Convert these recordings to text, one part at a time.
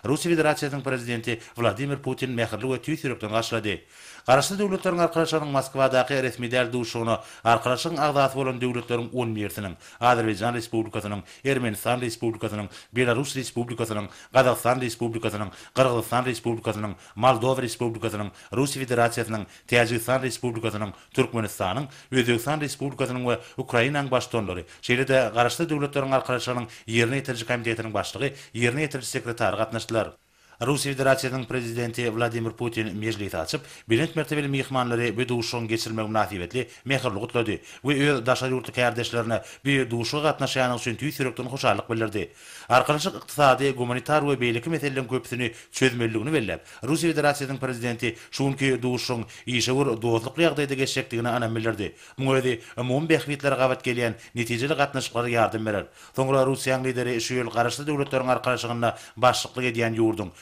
Russiýa Federasiýasynyň Prezidenti Wladimir Putin mähirli we tüýs ýürekden garşylady. Garaşsyz Döwletleriň Arkalaşygynyň Moskwadaky resmi däl duşuşygyna Arkalaşygyň agzasy bolan döwletleriň on birsiniň, Azerbaýjan Respublikasynyň, Ermenistan Respublikasynyň, Belarus Respublikasynyň, Gazagystan Respublikasynyň, Gyrgyzystan Respublikasynyň, Moldowa Respublikasynyň, Russiýa Federasiýasynyň, Täjigistan Respublikasynyň, Türkmenistanyň, Özbegistan Respublikasynyň we Ukrainanyň Baştutanlary, şeýle-de Garaşsyz Döwletleriň Arkalaşygynyň Ýerine ýetiriji komitetiniň başlygy, Ýerine ýetiriji sekretary gatnaşdylar. Russiýa Federasiýasynyň Prezidenti Wladimir Putin mejlisi açyp, belent mertebeli myhmanlary bu duşuşygyň geçirilmegi mynasybetli mähirli gutlady we öz daşary ýurtly kärdeşlerine bu duşuşyga gatnaşýandygy üçin tüýs ýürekden hoşallyk bildirdi. Arkalaşyk ykdysady, gumanitar we beýleki meseleleriň köpüsini çözmelidigini belläp, Russiýa Federasiýasynyň Prezidenti şu günki duşuşygyň işewür, dostlukly ýagdaýda geçjekdigine ynam bildirdi. Muň özi umumy bähbitlere gabat gelýän netijeli gatnaşyklara ýardam berer. Soňra Russiýanyň Lideri şu ýyl Garaşsyz Döwletleriň Arkalaşygynda başlyklyk edýän ýurduň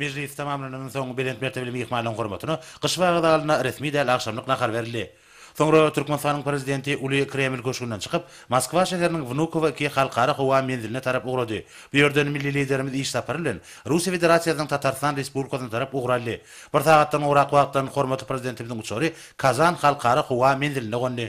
Mejlis tamamlanandan soň belent mertebeli myhmanyň hormatyna Gyş bagy zalynda resmi däl agşamlyk nahar berildi. Soňra Türkmenistanyň Prezidenti uly Kreml köşgünden çykyp, Moskwa şäheriniň Wnukowo iki halkara howa menziline tarap ugrady. Bu ýerden milli Liderimiz iş sapary bilen Russiýa Federasiýasynyň Tatarstan Respublikasyna tarap ugur aldy. Bir sagatdan gowrak wagtdan hormatly Prezidentimiziň uçary Kazan halkara howa menzilinde gondy.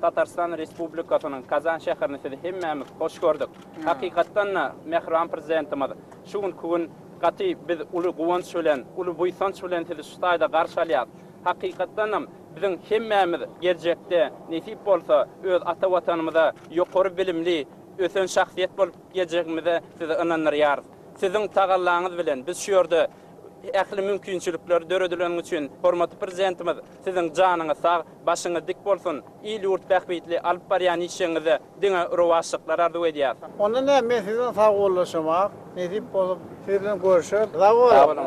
Tatarystan Respublikasynyň Kazan şäherini sizi hemmämiz hoş gördük. Hakykatdan-da, mähriban Prezidentimiz şu günki gün gaty biz uly guwanç bilen, uly buýsanç bilen sizi şu taýda garşy alýas. Hakykatdanam, biziň hemmämiz geljekde, nesip bolsa, öz ata Watanymyza ýokary bilimli, ösen şahsyýet bolup geljegimize sizi ynandyrýarys. Siziň tagallaňyz bilen biz şu ýerde ähli mümkinçilikler döredileni üçin, hormatly Prezidentimiz, siziň janyňyz sag, Başyňyz dik bolsun, il-ýurt bähbitli alyp barýan işiňizde diňe rowaçlyklar arzuw edýäs. Onda näme men siz bilen sagbollaşamak, nesip bolup siz bilen görüşeris. Sag boluň.